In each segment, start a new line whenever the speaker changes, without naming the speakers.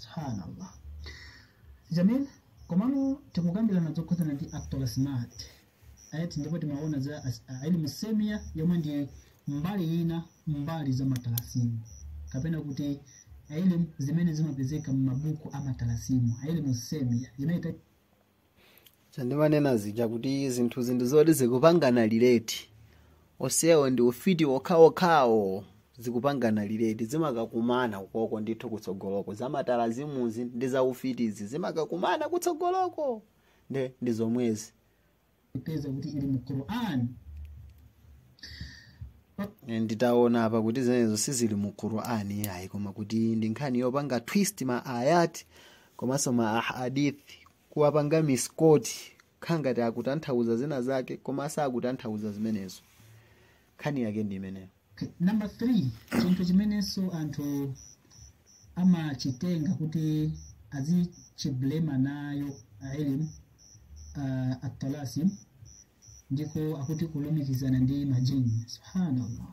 subhanallah jamil komano tikukambirana zokhudzana ndi atalasimat ati ndipo timaona za as- a- ilmu semia yomwe ndi mbali ina mbali za matalasimu kapena kuti ilmu zimene zimapezeka m'mabuku a matalasimu ilmu semia imene
chandimanena zija kuti zinthuzi ndi zoti zikupangana relate osewo ndi ufiti wokhaokhawo zikupangana relate zimakakumana ukoko ndithu kutsogoloko za matalazimuzi ndi za ufitizi zimakakumana kutsogoloko nde ndi zomwezi kupeza kuti ili mu quran nditaona apa kuti zimenezo sizili mu qurani ayi koma kuti ndi nkhani yopanga twist ma ayat komanso ma ahadith kuwapanga misquote kukhala ngati akutanthauza zina zake koma sakutanthauza zimenezo nkhani yake ndi imeneyo Okay,
number three chinthu chimenenso anthu amachitenga kuti azichiblema nayo ilm uh, atalasim ndiko akuti kulumikizana ndi majini subhanallah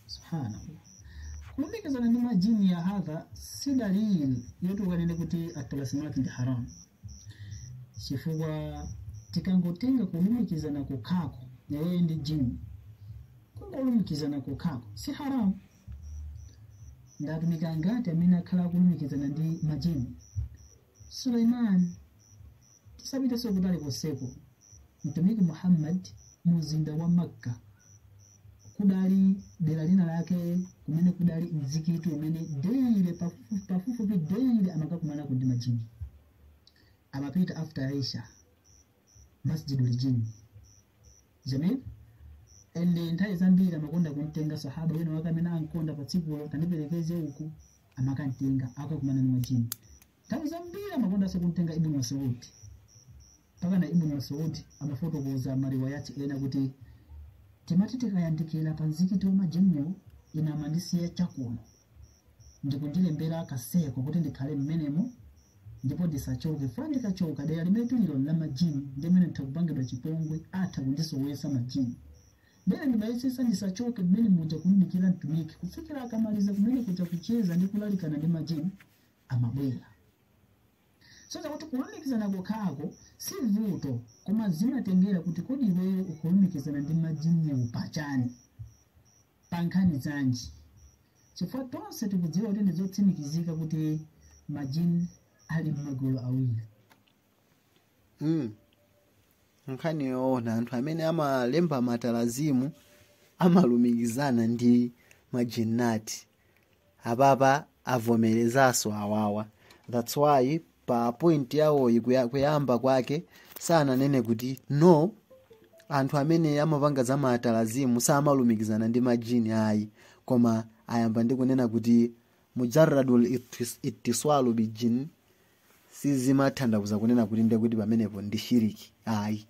subhanallah kulumikizana ndi majini ya hadha si dalili yoti ukanene kuti atalasimati ndi haram chifukwa tikangotenga kulumikizana kokhako iweyo ndi jini kungolumikizana kokhako si haramu ndi atumiki angati amene akhala akulumikizana ndi majini suleiman tisapitenso kutali konseko mtumiki muhammad mu mzinda wa makka kudali dera lina lake kumene kudali mzikiti umene daily pafupi- pafupifupi daily amakakumanako ndi majini amapita after isha masjidul jinn jamil and nthawi zambiri amakonda kumtenga sahaba wina wake amene ankonda pa tsikulo tandiperekeze uku amakantenga akakumana ndi majini nthawi zambiri amakondanso kumtenga ibnu masudi mpaka na ibnu masudi amafotokoza mariwayati ena kuti timati tikayandikira pa mzikiti wa majiniwo ine amandisiya chakuno ndikundilembera ka circle kuti ndikhale mmenemo ndipo ndisachoke chifukwa ndikachoka dera limene tililo la majini ndi mmene nditha kupangidwa chipongwe atha kundisowesa majini nde ine ndimayesesa ndisachoke mmene muja kumdikira mtumiki kufikira akamaliza kumene kuja kucheza ndi kulalikana ndi majini amabwera kusonyeza kuti kulumikizana kokhako si vuto koma zimatengera kuti kodi iweyo ukulumikizana ndi majiniwo pachani pa nkhani zanji chifukwa tonse tikudziwa kuti ndi zotsimikizika kuti majini ali m'magulu awiri mm.
nkhani yoona anthu amene amalemba matalazimu amalumikizana ndi majinnati apapa avomerezaso awawa that's why pa point yawoyi kuyamba kwake sananene kuti no anthu amene amapanga za maatalazimu samalumikizana ndi majini ayi koma ayamba ndi kunena kuti mujarradul itiswalu bijin sizimathandauza kunena kuti ndiye kuti pamenepo ndi shiriki ayi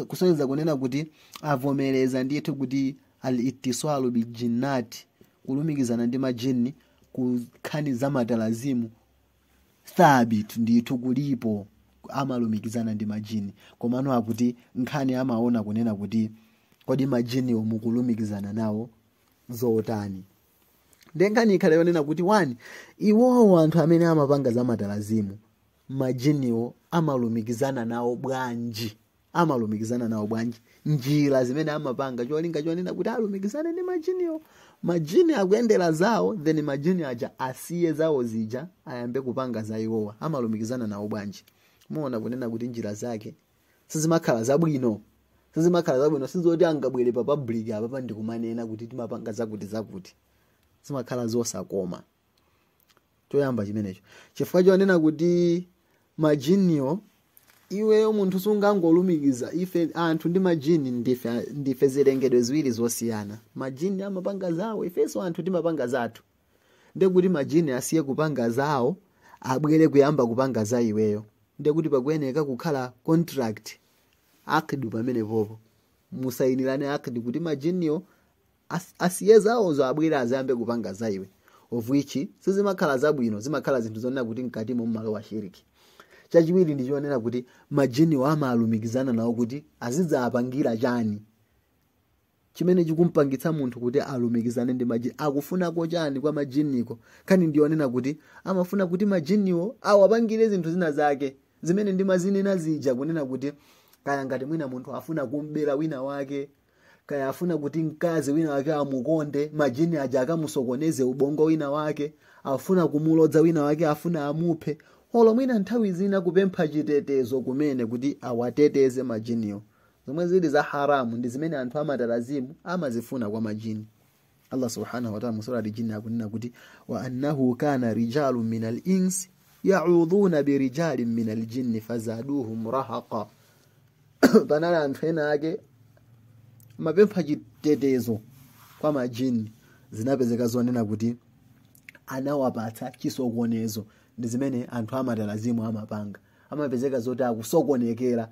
kusonyeza kunena kuti avomereza ndithu kuti al ittisalu bil jinnati kulumikizana ndi majinni ku nkhani za matalazimu thabit ndithu kulipo amalumikizana ndi majini komano akuti nkhani amaona kunena kuti kodi majiniwo mukulumikizana nawo zotani nde nkhani ikhale yonena kuti one iwowo anthu amene amapanga za matalazimu majiniwo amalumikizana nawo bwanji amalumikizana nawo bwanji njira zimene amapanga cholinga chonena kuti alumikizane ndi majiniwo majini akuyendera zawo then majini aja asiye zawo zija ayambe kupanga za iwowa amalumikizana nawo bwanji muona kunena kuti njira zake sizimakhala zabwino sizimakhala zabwino sizoti angabwere pa public apa ndikumanena kuti timapanga zakuti zakuti zimakhala zosakoma choyamba chimenecho chifukwa chonena kuti majiniwo iweyo munthu sungangolumikiza ife anthu ndi majini ndife zilengedwe ziwiri zosiyana majini amapanga zawo ifenso anthu timapanga zathu ndekuti majini asiye kupanga zawo abwere kuyamba kupanga za iweyo ndekuti pakuyeneka kukhala contract akdi pamenepopo musayinirane akdi kuti majiniwo asiye zawozo abwere azayambe kupanga za iwe of which sizimakhala zabwino zimakhala zinthu zonena kuti mkatimo mmalowa shiriki chachiwiri ndi chonena kuti majiniwo amalumikizana nawo kuti azidzapangira chani chimene chikumpangitsa munthu kuti alumikizane ndi majini akufunako chani kwa majiniko nkhani ndiyonena kuti amafuna kuti majiniwo awapangire zinthu zina zake zimene ndimazinena zija kunena kuti kaya ngati mwina munthu afuna kum'bera wina wake kaya afuna kuti mkazi wina wake amukonde majini aja akamusokoneze ubongo wina wake afuna kumulodza wina wake afuna amuphe olo mwina nthawi zina kupempha chitetezo kumene kuti awateteze majiniwo zomwe zili za haramu ndi zimene anthu amatalazimu amazifuna kwa majini allah subhanahu wataala mu surati jini akunena kuti wa annahu kana rijalun minal insi yaudhuna birijalin minal jinni fazaduhum rahaqa panali anthu ena ake amapempha chitetezo kwa majini zinapezeka zonena kuti anawapatsa chisokonezo ndi zimene anthu amatalazimu amapanga amapezeka zoti akusokonekera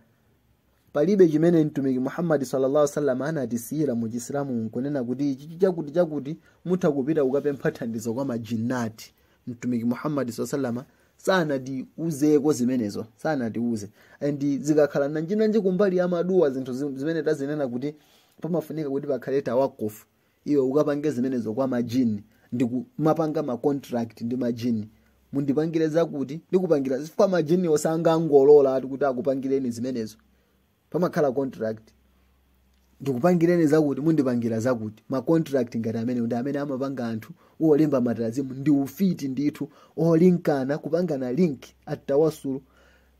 palibe chimene mtumiki muhammadi sallallahu alaihi wasallam anatisiyira mu chisilamu nkunena kuti ichi chakuti chakuti mutha kupita kukapempha thandizo kwa majinnati mtumiki muhammadi sallallahu alaihi wasallam sanatiuzeko zimenezo sanatiuze and zikakhala nanjinanji kumbali ya maduwa zinthu zi- zimene tazinena kuti pamafunika kuti pakhale tawakufu iwe ukapange zimenezo kwa majini ndikumapanga ma contract ndi majini mundipangire zakuti ndikupangira chifukwa majiniwo sangangolola ati kuti akupangireni zimenezo pamakhala contract ndikupangireni zakuti mundipangira zakuti ma contract ngati amenewa ndi amene amapanga anthu olemba matalazimu ndi ufiti ndithu olinkana kupangana link atawasulu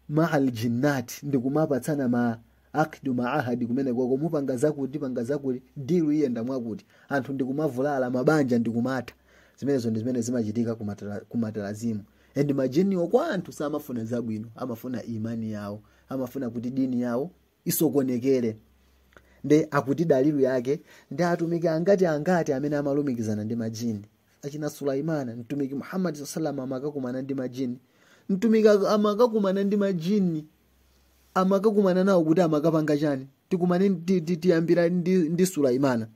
maal jinnat ndikumapatsana ma Aqdu maahadi kumenekoko mupanga zakuti panga zakuti deal iyenda mwakuti anthu ndikumavulala mabanja ndikumatha zimenezo ndi zimene zimachitika kumatala- kumatalazimu and majiniwo kwa anthu samafuna zabwino amafuna imani yawo amafuna kuti dini yawo isokonekere nde akuti dalilu yake ndi atumiki angati angati amene amalumikizana ndi majini achina sulaimana mtumiki muhammadi saa salam amakakumana ndi majini mtumiki ak- amakakumana ndi majini amakakumana nawo kuti amakapanga chani tikumane ti- ti- tiyambira ndi, ndi sulaimana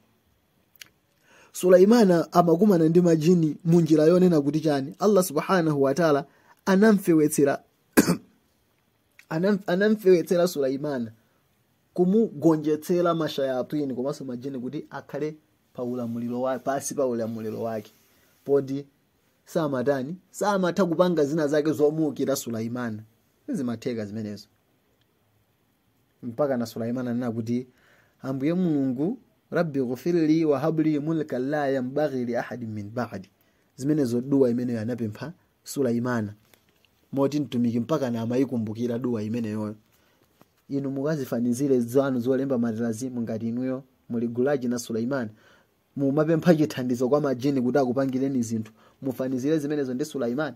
sulaimana amakumana ndi majini mu njira yonena kuti chani allah subhanahu wataala anamfewetsera anam- anamfewetsera sulaimana kumugonjetsera mashayatini komanso majini kuti akhale pa ulamuliro wa pansi pa ulamuliro wake moti samatani samatha kupanga zina zake zomuukira sulaimana zimatheka zimenezo mpakana sulaimani ananena kuti ambuye mulungu rabbi ghufirli wahabli mulka la yanbaghi li ahadin min ba'di zimenezo duwa imeneyo anapempha sulaimana moti mtumiki mpakana amayikumbukira duwa imeneyoyo inu mukazifanizire zanu zolemba matalazimu ngati inuyo muli gulaji ndi sulaimani mumapempha chithandizo kwa majini kuti akupangireni zinthu mufanizire zimenezo ndi sulaimani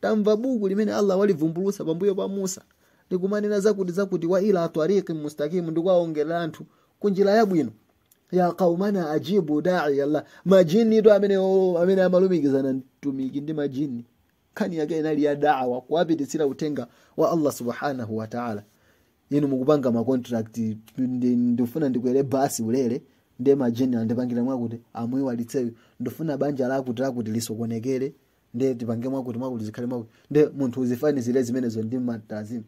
tamva buku limene allah walivumbulutsa pambuyo pa musa likumanena zakuti zakuti wa ila tariqi mustakimu ndikuwaongolera anthu ku njira yabwino ya qaumana ajibu dai allah majini ndiwo amene o- amene amalumikizana mtumiki ndi majini nkhani yake inali ya dawa kuwapititsira uthenga wa allah subhanahu wa taala inu mukupanga macontract ndi- ndifuna ndikwere basi ulere ndi majini andipangire mwakuti amuiwalitse uyo ndifuna banja lakuti lakuti lisokonekere nde tipange mwakuti mwakuti zikhale mwakuti nde munthu uzifanizire zimenezo ndi matalazimu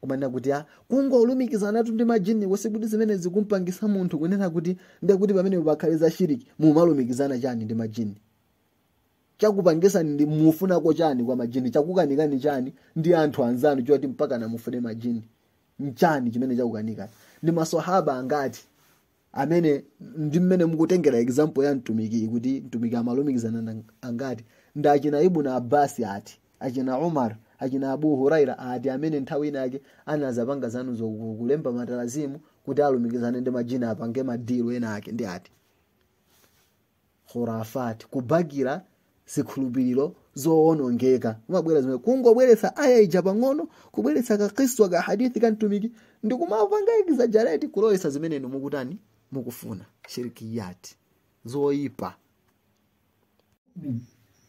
kumanena kuti a kungolumikizanatu ndi majini wose kuti zimene zikumpangisa munthu kunena kuti nde kuti pamene pakhale za shiriki mumalumikizana chani ndi majini chakupangisani ndi mufunako chani kwa majini chakukanikani chani ndi anthu anzanu choti mpaka namufune majini mchani chimene chakukanikani ndi maswahaba angati amene ndi mmene mukutengera example ya mtumiki kuti mtumiki amalumikizana angati ndi achina ibn abbas ati achina umar achina abu huraira ati amene nthawi inake anazapanga zanu zokulemba matalazimu kuti alumikizane ndi majini apange madilu ena ake ndi ati khurafat kubakira zikhulupiriro zoonongeka kumabwera zimene kungobweretsa aya ija pang'ono kubweretsa kakiswa ka hadithi ka mtumiki ndi kumapanga exaggerate kulowesa zimene inu mukutani mukufuna shirikiyati zoyipa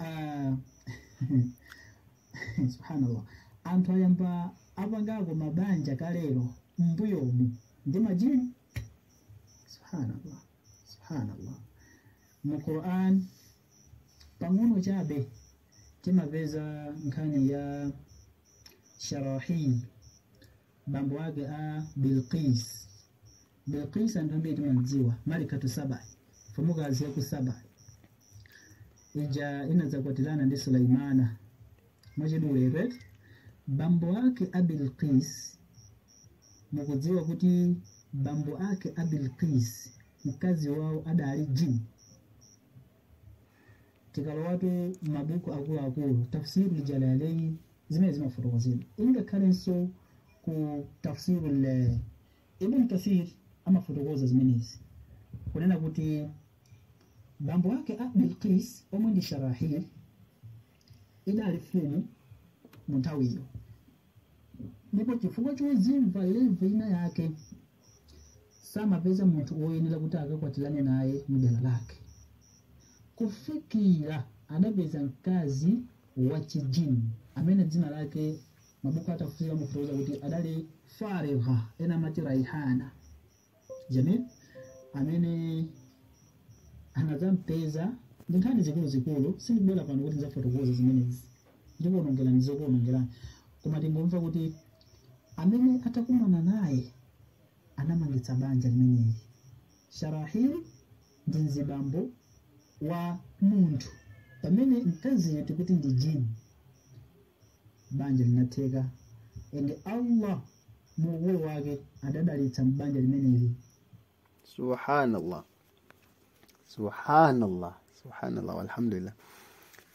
Ah, subhanallah anthu ayamba apangapo mabanja kalero mbuyomu ndi majini subhanallah subhanallah mu quran pang'ono chabe timapeza nkhani ya sharahil bambo ake a bilqis bilqis anthu ambiri timamdziwa malikatu saba mfumukazi ya ku saba ija inadzakwatirana ndi sulaimana mwachidule right bambo ake a bilqis mukudziwa kuti bambo ake a bilqis mkazi wawo adali jini tikalowatu m'mabuku akuluakulu tafsir ljalalain zimenezi amafotokoza ngakhalenso ku tafsir l ibn kathir amafotokoza zimenezi kunena kuti bambo ake a bilqis omwe ndi sharahil idali mfumu mu nthawiyo ndipo chifukwa chozimva levu ina yake samapeza munthu woyenera kuti akakwatirane naye mdera lake kufikira adapeza mkazi wa chijini amene dzina lake mabuku a tafsiri amafotokoza kuti adali farigha ena amati raihana jamil amene anadzampeza ndi nkhani zikuluzikulu sindibwera pano kuti ndidzafotokoza zimenezi ndikuonongerani zokuonongerani koma tingomva kuti amene atakumana naye anamangitsa banja limeneli sharahili ndi mzibambo wa munthu pamene mkazi yetu kuti ndi jini banja linatheka ende allah mu ukulu wake adadalitsa m'banja limeneli
subhanallah subhanallah subhanallah walhamdulillah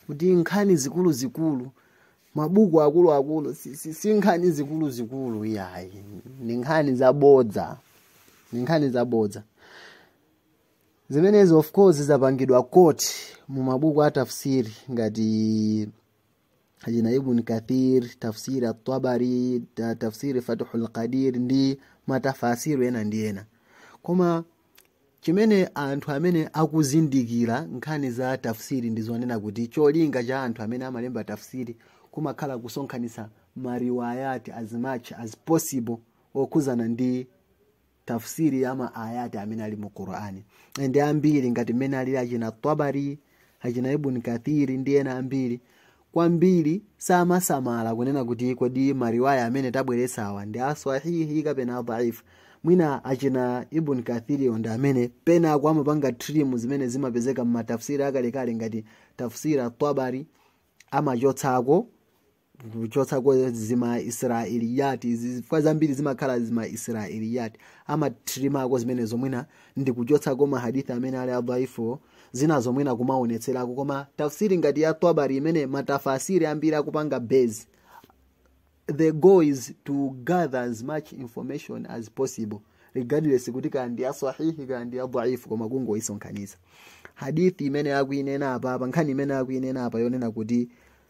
kuti nkhani zikulu zikulu mabuku akulu akulu si, si, si nkhani zikulu zikulu iyayi ni nkhani zabodza ni nkhani zabodza zimenezo of course zapangidwa quote mu mabuku a tafsiri ngati achina ibn kathir tafsiri at-tabari ta tafsiri fathul qadir ndi matafasiri ena ndi ena koma chimene anthu amene akuzindikira nkhani za tafsiri ndi zonena kuti cholinga cha anthu amene amalemba tafsiri kumakhala kusonkhanitsa mariwayati as much as possible okhuzana ndi tafsiri ya ma ayati amene ali mu qur'ani ende ambiri ngati mmene alili achina tabari achina ibn kathiri ndi ena ambiri kwambiri samasamala kunena kuti kodi mariwaya amene tabweretsawa ndi aswahihi kapena adhaifu mwina achina ibn kathiriyo ndi amene penapake amapanga trim zimene zimapezeka mmatafsiri akalekale ngati tafsiri at-tabari amachotsako kuchotsako zima israeliyati zifukwa zambiri zimakhala zima israeliyati amatrimako zimenezo mwina ndi kuchotsako mahadithi amene ali adhaifuwo zinazo mwina kumaonetserako koma tafsiri ngati ya tabari imene matafasiri ambiri akupanga base the goal is to gather as much information as possible regardless kuti kaya ndi yasahihi kaya ndi yadhaifu koma kungoyisonkhanitsa hadithi imene akuinena apa apa nkhani imene akuinena apa yonena kuti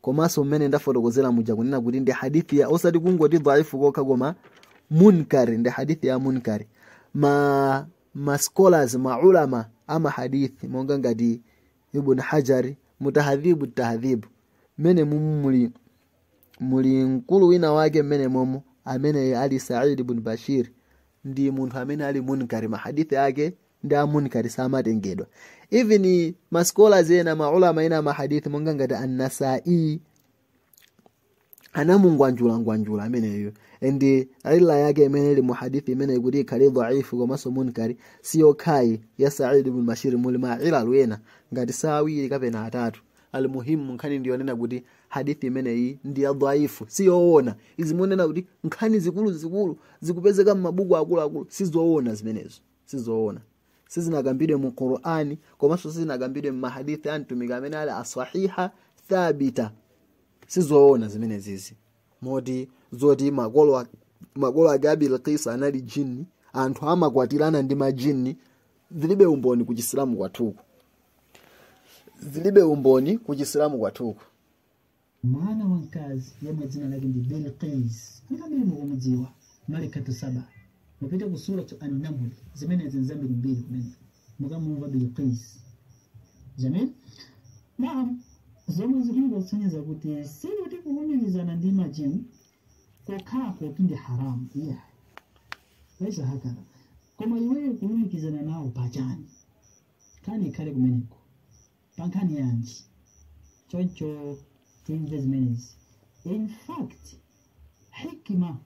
komanso mmene ndafotokozera muja kunena kuti ndi hadithi ya osati kungoti dhaifu kokha koma munkari ndi hadithi ya munkari ma ma scholars ma ulama ama hadithi monga ngati ibn hajari mu tahadhibu tahadhibu mmene muli muli mkulu wina wake mmene momo amene ali said ibn bashir ndi munthu amene ali munkari mahadithi ake ndi amunkari samatengedwa even ma scholars ena maulama ena amahadithi monga ngati annasai anamungwanjulangwanjula ameneyo ende illa yake imene ili muhadithi imene ikuti ikhale dhaifu komanso munkari siyokhayi ya said ibn bashir muli ma ilalu ena ngati si awiri kapena atatu almuhimu nkhani ndiyonena kuti hadithi imeneyi ndi ya dhaifu siyoona izi zonena kuti nkhani zikuluzikulu zikupezeka m'mabuku akuluakulu sizoona zimenezo sizoona sizinakambidwe mu qur'ani komanso sizinakambidwe mmahadithi a mtumiki amene ali asahiha thabita sizoona zimenezizi moti zoti makolo makolo ake a bilikisi anali jini anthu amakwatirana ndi majini zilibe umboni ku chisilamu kwathuku zilibe umboni ku chisilamu
kwathuku mwana wamkazi yemwe dzina lake ndi bilqis anthu ambiri mukumudziwa malikatu saba mupite ku suratu annamli zimenezi nzambirimbiri kumene mukamumva bilqis jamil naam zomwe zikungosonyeza kuti sikuti kulumikizana ndi majini kokhako kuti ndi haramu iya esa hakala koma iweyo kulumikizana nawo pachani kani ikhale kumeneko pa nkhani yanji choncho timve zimenezi in fact hikima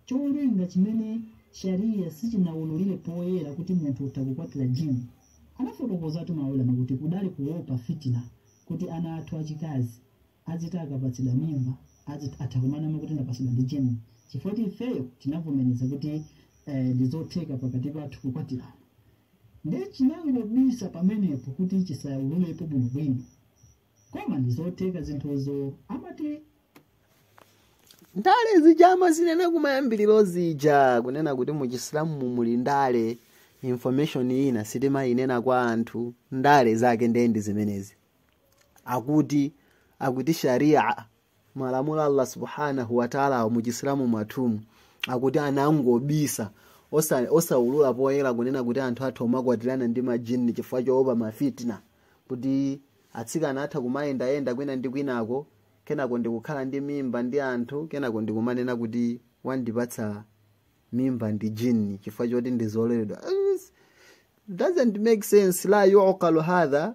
cholinga chimene shariya sichinawululire poyera kuti munthu utha kukwatira jini anafotokozatu maulama kuti kudali kuopa fitina kuti ana athu achikazi aziti akapatsidwa mimba atha kumanama kuti ndapatsidwa ndi jini chifukwa kuti ifeyo tinavomereza kuti eh, ndizotheka pakati pathu kukwatirana nde chinangobisa pamenepo kuti chisaululepo bwinobwino koma ndizotheka zinthuzo amati
ndale zija amazinena kumayambiriro zija kunena kuti mu chisilamu mu muli ndale information ina sitimayinena kwa anthu ndale zake nde ndi zimenezi akuti akuti sharia malamulo allah subhanahu wataalawo mu chisilamu mwathumu akuti anangobisa osa- osaulula poyera kunena kuti anthu atha kumakwatirana ndi majini chifukwa choopa mafitina kuti atsikana atha kumayendayenda kwina ndi kwinako kenako ndikukhala ndi mimba ndi anthu kenako ndikumanena kuti wandipatsa mimba ndi jini chifukwa choti ndizololedwa doesn't make sense la yuqalu hadha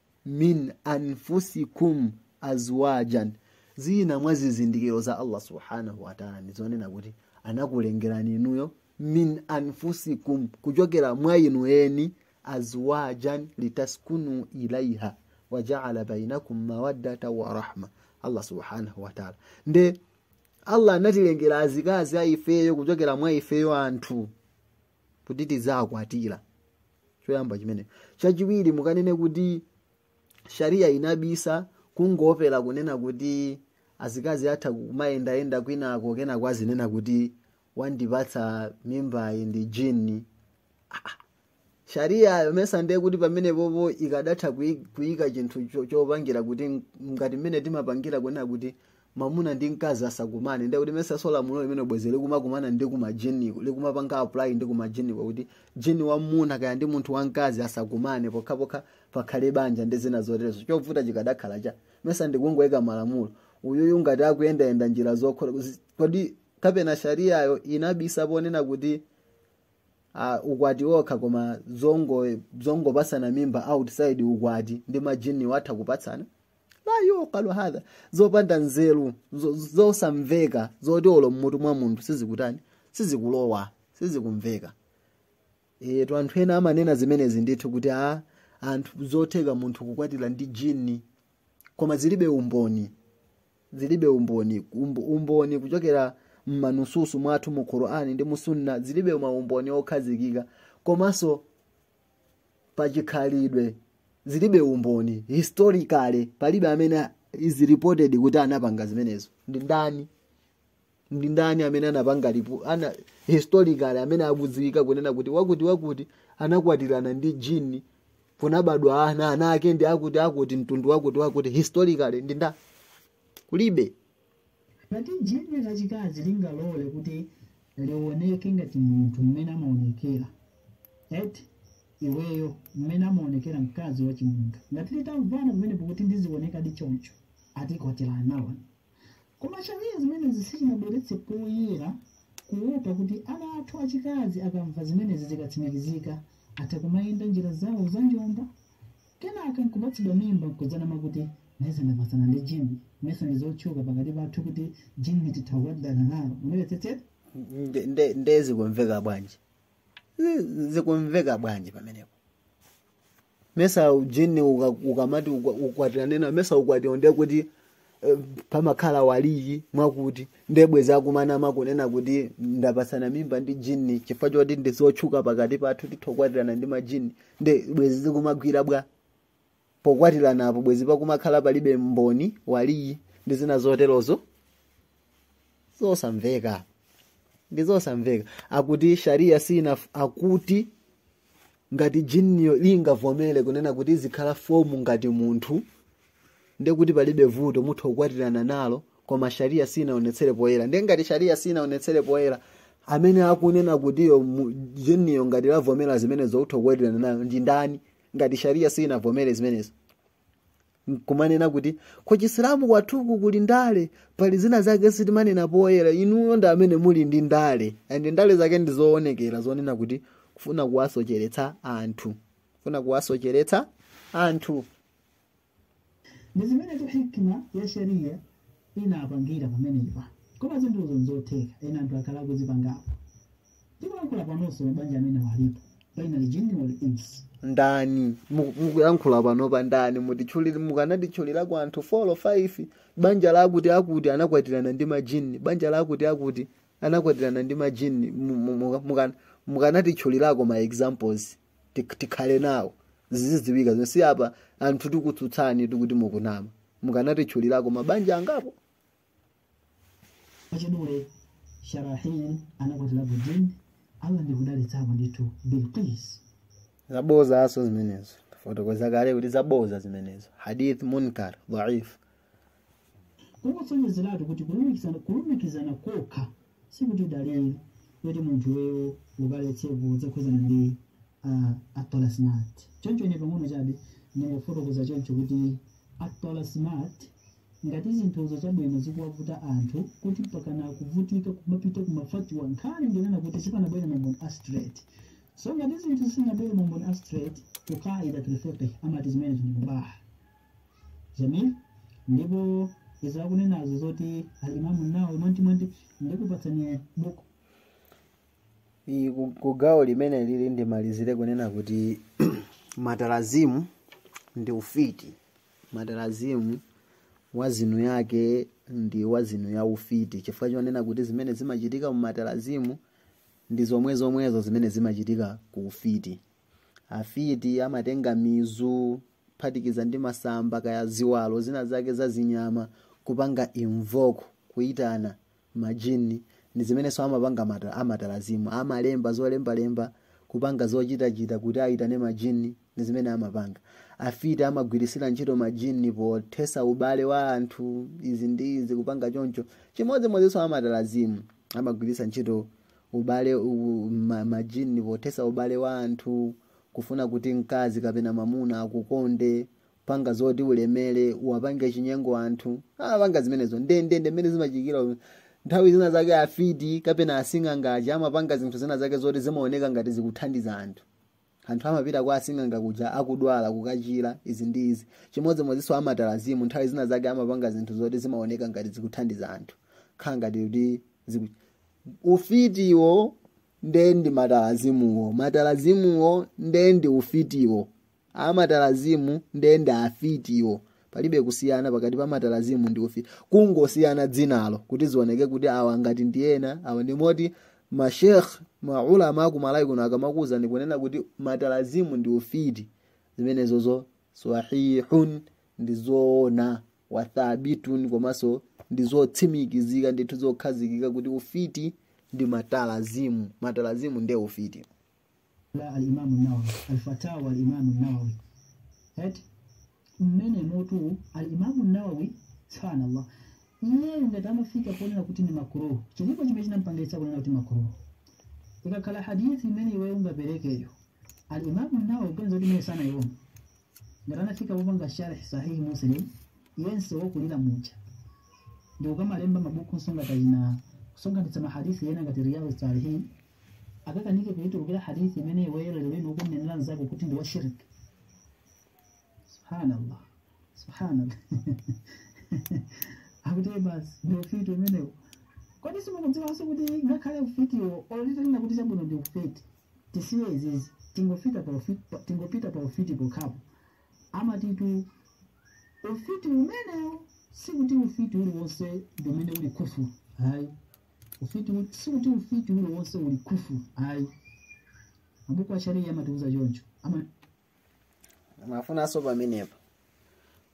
min anfusikum azwajan zina mwa zizindikiro za allah subhanahu wataala ndizonena kuti anakulengerani inuyo min anfusikum kuchokera mwa inu eni azwajan litaskunu ilaiha wajaala bainakum mawaddata wa rahma allah subhanahu wataala nde allah anatilengera azikazi a ifeyo kuchokera mwa ifeyo anthu kuti tidzakwatira choyamba chimenecho chachiwiri mukanene kuti sharia inabisa kungoopera kunena kuti azikazi atha kumayendayenda kwinako kenako azinena kuti wandipatsa mimbayi ndi jini sharia yo mesa ndiye kuti pamenepopo ikadatha kuyi- kuyika chinthu cho- chopangira kuti m- ngati mmene timapangira kunena kuti mamuna ndi mkazi asakumane ndiye kuti mesanso lamulo limeneli bwezi likumakumana ndi kumajiniko likumapanga apply ndi kumajiniko kuti jini wamwamuna kaya ndi munthu wamkazi asakumane pokhapokha pakhale banja ndi zina zoterezo chovuta chikadakhala chani mesa ndikungoyika malamulo uyuyu ngati akuyendayenda njira zokhola kuzi- kodi kapena shariyayo inabisa ponena kuti uh, ukwati wokha koma zongo zongopatsana mimba outside ukwati ndi majini atha kupatsana la yuqalu hadha zopanda nzeru zo- zosamveka zoti olo mmutu mwa munthu sizikutani sizikulowa sizikumveka etu anthu ena amanena zimenezi ndithu kuti a anthu zotheka munthu kukwatira ndi jini koma zilibe umboni zilibe umboni Umbo- umboni kuchokera mmanususu mwathu mu qur'ani ndi mu sunna zilibe maumboni okhazikika komanso pachikhalidwe zilibe umboni historically palibe amene is reported kuti anapanga zimenezo ndi ndani ndi ndani amene anapanga historically amene akudziwika kunena kuti wakuti wakuti anakwatirana ndi jini kunabadwa ana ana ake ndi akuti akuti mtundu wakuti wakuti historically ndi ndani kulibe
Ngati jini lachikazi lingalole kuti liwoneke ngati munthu mmene amaonekera, eti iweyo, mmene amaonekera mkazi wachimunthu, ngati litamvana pamenepo kuti ndizionekadi choncho, ati kwatirana nawo. Koma Shariah zimenezi sichinabweretse poyera kuopa kuti ana athu achikazi akamva zimenezi zikatsimikizika, atha kumayenda njira zawo za njomba, Kenaka nkupatsidwa mimba nkudzanama kuti, Mesa ndapatsana ndi jinni. Mesa ndi zotchuka pakati pathu kuti jinni titha kukwatirana nalo. Mwandimvetsetsa? Nde- nde- nde
zikumveka bwanji Zi- zikumveka bwanji pamenepo mesa jini uka- ukamati ukwa- ukwatirane nawo mesa ukwatiwo ndiye kuti eh, pamakhala waliyi mwakuti nde bwezi akumanama kunena kuti ndapatsana mimba ndi jini chifukwa choti ndizotchuka pakati pathu tithokwatirana ndi majini nde bwezi zikumagwira bwa pokwatirana apo bwezi pakumakhala palibe mboni waliyi ndi zina zoterozo zosamveka ndizosamveka akuti sharia sina akuti ngati jinniyo lingavomere kunena kuti izikhala fomu ngati munthu ndiye kuti palibe vuto mutha kukwatirana nalo koma sharia sinaonetsere poyera ndiye ngati sharia sinaonetsere poyera amene akunena kuti yo mu- jinniyo ngati lavomera zimenezo utha kukwatirana nayo ndi ndani ngati sharia sinavomere zimenezo nkumanena kuti ku chisilamu kwathuku kuli ndale pali zina zake sitimanena poyera inuyo ndi amene muli ndi ndale and ndale zake ndi zoonekera zonena kuti kufuna kuwasocheretsa anthu kufuna kuwasocheretsa anthu
ndi zimenezo hikima ya sharia inapangira pamenepa koma zinthuzo nzotheka ena anthu akhala akuzipangapo tikulankhula panonso mabanja amene walipo baina aljinni wal ins ndani
Mu- mukuyankhula panopa ndani mutitchulire mukanatitchulira kwa anthu 4 or 5 banja lakuti akuti anakwatirana ndi majini banja lakuti akuti anakwatirana ndi majini Mu- mu- muka- muka- mukanatitchulirako ma examples Tik- tikhale nawo zizidziwika zonse apa anthu tikutsutsani tikuti mukunama mukanatitchulirako mabanja angapo
achidule sharahil anakwatira bujin allah ndikudalitsapo ndithu bilqis
zabodzanso zimenezo tafotokoza kale kuti zabodza zimenezo hadith munkar dhaif
kungosonyezeratu kuti kulumikizana kulumikizana kokha sikuti dalili yoti munthu weyo ukaletsepo zokhudzana ndi at-talasim choncho ine pang'ono chabe ndingofotokoza choncho kuti at-talasimat Ngati zinthuzo chabwino zikuwavuta anthu kuti mpakana akuvutika kumapita ku mafatiwa nkhani ndi yonena kuti sipanabwere mamboni a straight so ngati zinthu sizinabwere mamboni a straight ku qaida tul fiqh amati zimene zili mubaha jaiz ndipo izi akunenazo zoti al imamu nawawi mwantimwanti ndikupatsani buku iyi ku-
ku gawo limene lili ndimalizire kunena kuti matalazimu ndi ufiti matalazimu wazini yake ndi wazini ya ufiti chifukwa chonena kuti zimene zimachitika mu matalazimu ndi zomwezomwezo zimene zimachitika ku ufiti afiti amatenga mizu kuphatikiza ndi masamba kaya ziwalo zina zake za zinyama kupanga invoke kuitana majinni ndi zimenenso amapanga mata- amatalazimu amalemba zolembalemba kupanga zochitachita kuti ayitane majinni ndi zimene amapanga afiti amagwiritsira ntchito majinni pothetsa ubale wa anthu izi ndi izi kupanga choncho chimodzimodzinso amatalazimu amagwiritsa ntchito ubale u- ma- majinni pothetsa ubale wa anthu kufuna kuti mkazi kapena mamuna akukonde panga zoti ulemere uwapange chinyengo anthu amapanga zimenezo ndendende mmene zimachitikira nthawi zina zake afiti kapena asing'anga aja amapanga zinthu zina zake zoti zimaoneka ngati zikuthandiza anthu anthu amapita kwa asing'anga kuja akudwala kukachira izi ndi izi chimodzimodzinso amatalazimu nthawi zina zake amapanga zinthu zoti zimaoneka ngati zikuthandiza anthu khala ngati kuti ziku- ufitiwo nde ndi matalazimuwo matalazimuwo nde ndi ufitiwo amatalazimu nde ndi afitiwo palibe kusiyana pakati pa matalazimu ndi ufiti kungosiyana dzinalo kuti zioneke kuti awa ngati ndi ena awa ndi ena moti mashekh maulama akumalayi kuno akamakuwuzani kunena kuti matalazimu ndi ufiti zimenezozo sahihun ndi zoona wathabitun komanso ndi zotsimikizika ndithu zokhazikika kuti ufiti ndi matalazimu matalazimu nde ufiti
la alimamu nawawi alfatawa alimamu nawawi eti mmene motu alimamu nawawi subhanallah iye ngati amafika ponena kuti ni makruh chilipo chimene chinampangitsa kunena kuti makruh ikakhala hadithi imene iwe ungaperekeyo alimamu nawawi ukuganiza kuti imene sanaiona ngati anafika popanga sharh sahihi muslim yense wokulira muja ndi ukamalemba mabuku nsonga tajina kusonkhanitsa mahadithi ena ngati riyadu salihin akakanike kuitulukira hadithi imene iweyo lero lino ukunenera mzako kuti ndi washirik subhanallah subhanallah akuti basi ndi ufiti umenewo kodi simukudziwanso kuti ngakhale ufitiwo olo titenge kuti chabwino ndi ufiti tisiye izizi tingofika pa ufiti pa- tingopita pa ufiti pokhapo amatitu ufiti umenewo sikuti ufiti uliwonse ndi umene uli kufuru hayi Ufiti ul- sikuti ufiti uliwonse uli kufuru ayi mabuku a sharia amatiuza choncho ama
amafunanso pamenepa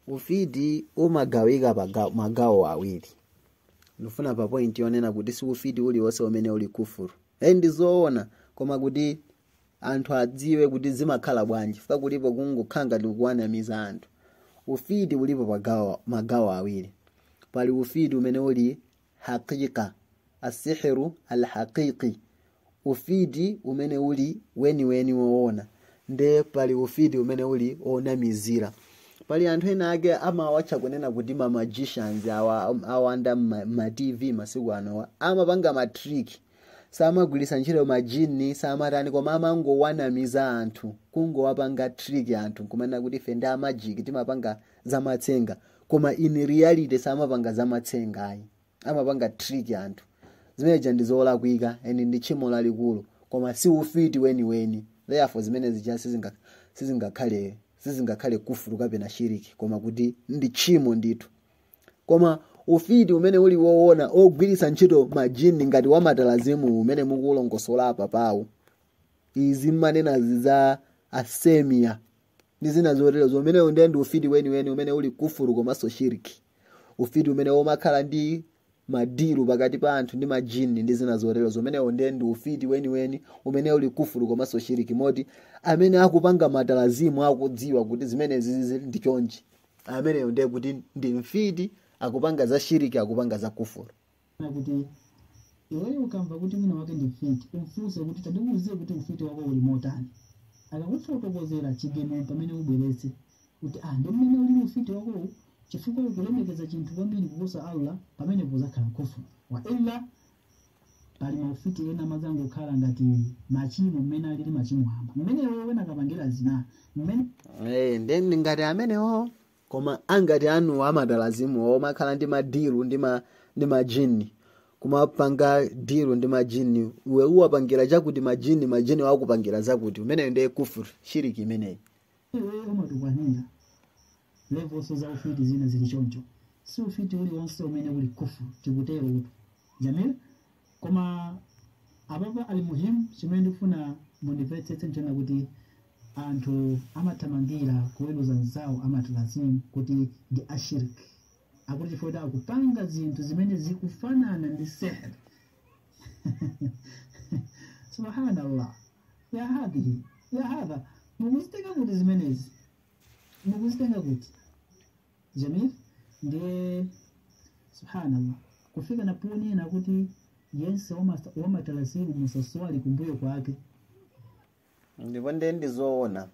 ufiti umagawika paga- magawo awiri ndifuna pa point yonena kuti si ufiti uliwonse umene uli kufuru e ndi zoona koma kuti anthu adziwe kuti zimakhala bwanji fika kulipo kungokhala ngati kuwanamiza anthu ufiti ulipo pagawo magawo awiri pali ufiti umene uli haqiqa, As-sihru al-haqiqi, Ufiti umene uli weniweni woona. Nde pali ufiti umene uli onamizira. Pali anthu ena ake amawatcha kunena kuti ma magicians awa awanda ma, ma TV masiku anowa. Amapanga ma trick. Samagwiritsa ntchito majini, samatani koma amangowanamiza anthu, kungowapanga trick anthu kumanena kuti ife ndi a magic timapanga zamatsenga koma in reality samapanga zamatsenga ayi amapanga trick anthu zimeneja ndi zolakwika and ndi tchimo lalikulu koma si ufiti weniweni therefore zimene zija sizinga- sizingakhale sizingakhale kufuru kapena shiriki koma kuti ndi tchimo ndithu koma ufiti umene uli woona ogwiritsa ntchito majini ngati wamatalazimu umene mukulongosola apa pawo izi mmanenazi za asemia ndi zina zotero zomenewo ndiye ndi ufiti weniweni umene uli kufuru komanso shiriki ufiti umene umakhala ndi madiru pakati pa anthu ndi majini ndi zina zotero zomenewo ndiye ndi ufiti weniweni umene uli kufuru komanso shiriki moti amene akupanga matalazimu akudziwa kuti zimenezi ndi chonchi ameneyo ndiye kuti ndi mfiti akupanga za shiriki akupanga za kufuru na
kuti iweyo ukamva kuti wina wake ndi mfiti umfunse kuti tandiuze kuti ufiti wako uli motani akakufotokozera chigamulo pamene ubweretse kuti ah ndi mmene ulili ufiti wakowu chifukwa ukulemekeza chinthu kwambiri kuposa allah pamenepo uzakhala kufuru wa illa pali maufiti ena amadzangokhala ngati machimo mmene alili machimo amba mmene iweyo ukapangira zina mmene Eh, nde ndi
ngati amenewo koma mangati awo amatalazimu omakhala ndi madiru ndi ma ndi majini kumapanga diru ndi majini iwe uwapangira chakuti majini majiniwo akupangira zakuti umeneyo ndiye kufuru shiriki imeneyi
iweyo umatukwanira levels za ufiti zina zili choncho si ufiti uliwonse umene uli kufuru tikuterotu jamil koma apapa al-muhimu chimene ndikufuna mundimvetsetse nchonena kuti anthu amathamangira kuweruza anzawo amatalazimu kuti ndi ashiriki akuti chifukwa kuti akupanga zinthu zimene zikufanana ndi sihr subhanallah ya hadhihi ya hadha mukuzitenga kuti zimenezi mukuzitenga kuti jamil ndiye subhanallah kufika naponena kuti yense wamasa- wamatalasimu musaswali kumbuyo kwake
ndipo ndiye ndizoona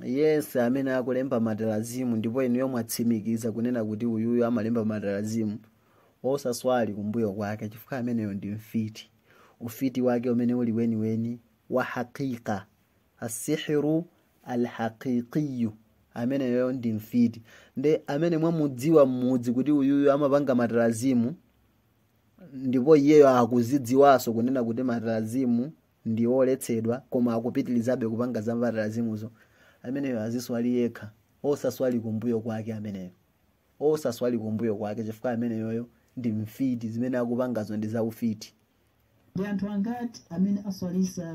yense amene akulemba matarazimu ndipo inuyo mwatsimikiza kunena kuti uyuyu amalemba matarazimu osaswali kumbuyo kwake chifukwa ameneyo ndi mfiti ufiti wake umene uli weniweni wa hakika assihiru alhaqiqiyu ameneyo ndi mfiti nde amene mwamudziwa mmudzi kuti uyuyu amapanga matarazimu ndipo iyeyo akuzidziwanso kunena kuti matarazimu ndi oletsedwa koma akupitirizabe kupanga za matarazimuzo ameneyo aziswali yekha osaswali kumbuyo kwake ameneyo osaswali kumbuyo kwake chifukwa ameneyoyo ndi mfiti zimene akupangazo ndi zaufiti Ndi
anthu angati amene aswalitsa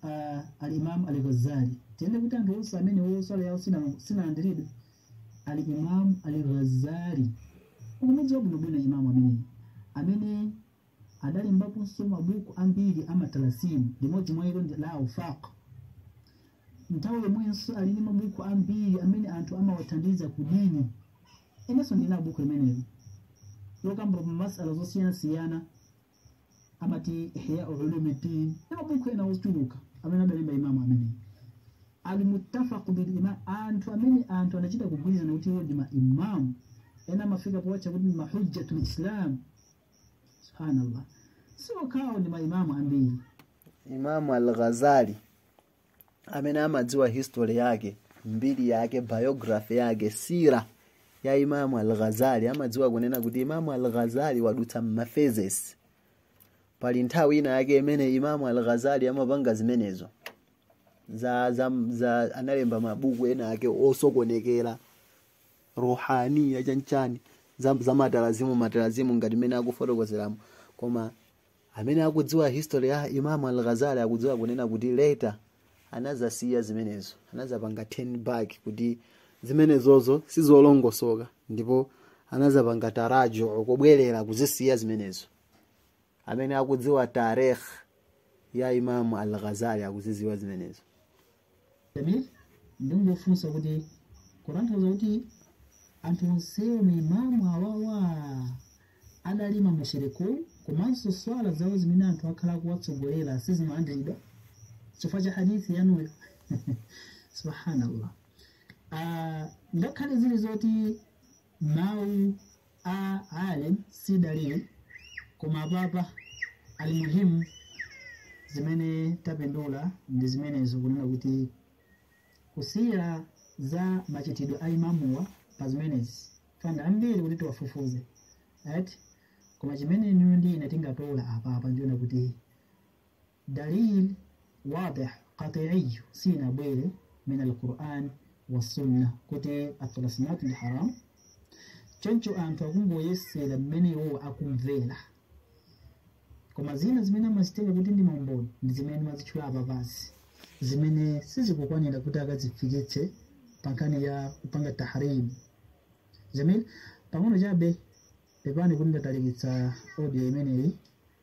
uh, al-Imam al-Ghazali? Tinene kuti anthu onse amenewo swala yawo sina- sinalandiridwe al-Imam al-Ghazali ukumudziwa bwinobwino imamu amene amene adalembaponso mabuku ambiri a matalasimu limodzi mwa ilo ndi la Awfaq nthawi yomwenso ali ndi mabuku ambiri amene anthu amawathandiza kudini inenso ndili nawo buku limeneli lokamba masaala zosiyanasiyana amati ihya ulumuddin ndi mabuku ena ochuluka amene adalemba imamu ameneyi almuttafaq bil imam anthu anachita kugwirizana kuti iwo ndi maimamu ena amafika powatcha kuti ndi mahujjatul islam subhanallah si okhawo ndi maimamu ambiri imamu
al-ghazali amene amadziwa history yake mbiri yake biography yake sira ya imamu al-ghazali amadziwa kunena kuti imamu al-ghazali wadutsa m'maphases pali nthawi ina yake imene imamu al-ghazali amapanga zimenezo za, za, za analemba mabuku ena ake osokonekera ruhaniya chanichani za, za matalazimu matalazimu ngati mmene akufotokozeramo koma amene akudziwa history ya Imam al-Ghazali akudziwa kunena kuti later anazasiya zimenezo anazapanga turn back kuti zimenezozo sizolongosoka ndipo anazapanga taraju kubwerera kuzisiya zimenezo amene akudziwa tarikh ya Imam al-Ghazali akuzidziwa zimenezo
Jamil ndingofunsa kuti kutanthauza kuti anthu onsewo maimamu awawa adali mamushirikuun komanso swala zawo zimene anthu akhala akuwatsogolera sizimalandiridwa chifukwa cha hadithi yanuyo subhanallah Ah, ngakhale zili zoti mawu a alim si dalili koma apapa almuhimu zimene tapindula ndi zimenezo kunena kuti kusila za machitidwe a imamuwa pa zimenezi funa zambiri kuti tiwafufuze right koma chimene inuyo ndi ine tingatola apapa nchonena kuti Dalil wadih qati'iy sinabwere min al-Qur'an wa sunna kuti at-talasimat ndi haram choncho anthu akungoyesera mmene iwowo akumvera koma zina zimene amazitenga kuti ndi maumboni ndi zimene amazitchula apa basi zimene sizikukwanira kuti akazifikitse pa nkhani ya kupanga tahrim jamil pang'ono chabe pepani kuti ndatalikitsa audio imeneyi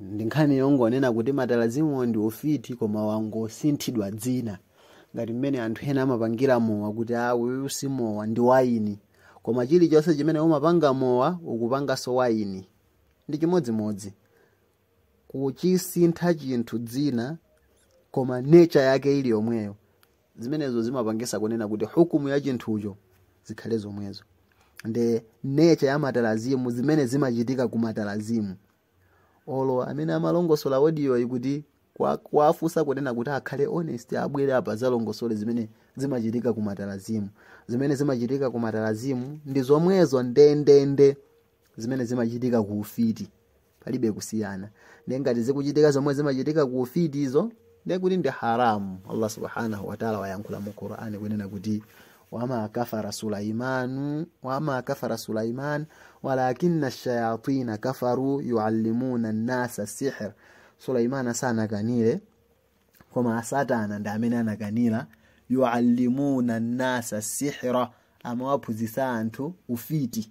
ndi nkhani yongonena kuti matalazimuwo ndi ufiti koma wangosinthidwa dzina ngati mmene anthu ena amapangira mowa kuti a uyu si mowa ndi waini koma chilichonse chimene umapanga mowa ukupanganso waini ndi chimodzimodzi kuchisintha chinthu dzina koma nature yake ili yomweyo zimenezo zimapangisa kunena kuti hukumu ya chinthucho zikhale zomwezo nde nature ya matalazimu zimene zimachitika ku matalazimu olo amene amalongosola audio iyi kuti kuwafunsa kunena kuti akhale honest abwere apa azalongosole zimene zimachitika ku matalazimu zimene zimachitika ku matalazimu ndi zomwezo ndendende zimene zimachitika ku ufiti palibe kusiyana ndiye ngati zikuchitika zomwe zimachitika ku ufitizo ndiye kuti ndi haramu allah subhanahu wataala wayankhula mu qurani kunena kuti wama kafara sulaiman walakina shayatina kafaru yuallimuna nnasa sihr sulaiman sanakanire koma asatana ndi amene anakanira yuallimuna nnasa sihra amawaphunzitsa anthu ufiti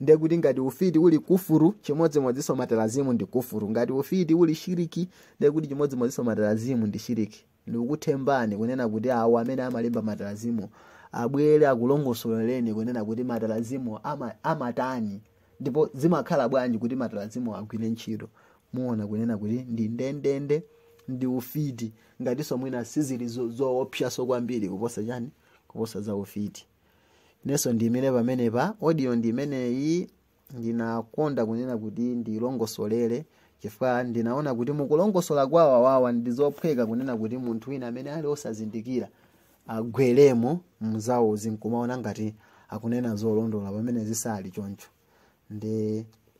ndiye kuti ngati ufiti uli kufuru chimodzimodzinso matalazimu ndi kufuru ngati ufiti uli shiriki ndiye kuti chimodzimodzinso matalazimu ndi shiriki ndikupemphani kunena kuti awo amene amalemba matalazimu abwere akulongosolereni kunena kuti matalazimu ama, amatani ndipo zimakhala bwanji kuti matalazimu agwire ntchito muona kunena kuti ndi ndendende ndi ufiti ngatinso mwina sizili zo- zoopsaso kwambiri kuposa chani kuposa za ufiti inenso ndiyimire pamenepa audio ndi imeneyi ndinakonda kunena kuti ndilongosolere chifukwa ndinaona kuti mukulongosola kwa awawa ndi zophweka kunena kuti munthu wina amene ali osazindikira agweremo mzawozi nkumaona ngati akunena zolondola pamene zisali choncho nde